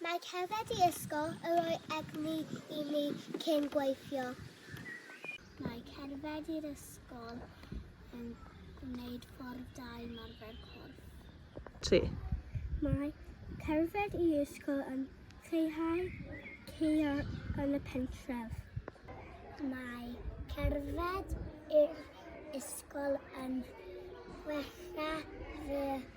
Mae cerdded i ysgol yn rhoi egni i mi cyn gweithio. Mae cerdded i'r ysgol yn gwneud ffordd da i marfer corff. 3. Mae cerdded i ysgol yn lleihau ceio yn y pentref. Mae cerdded i'r ysgol yn wella fy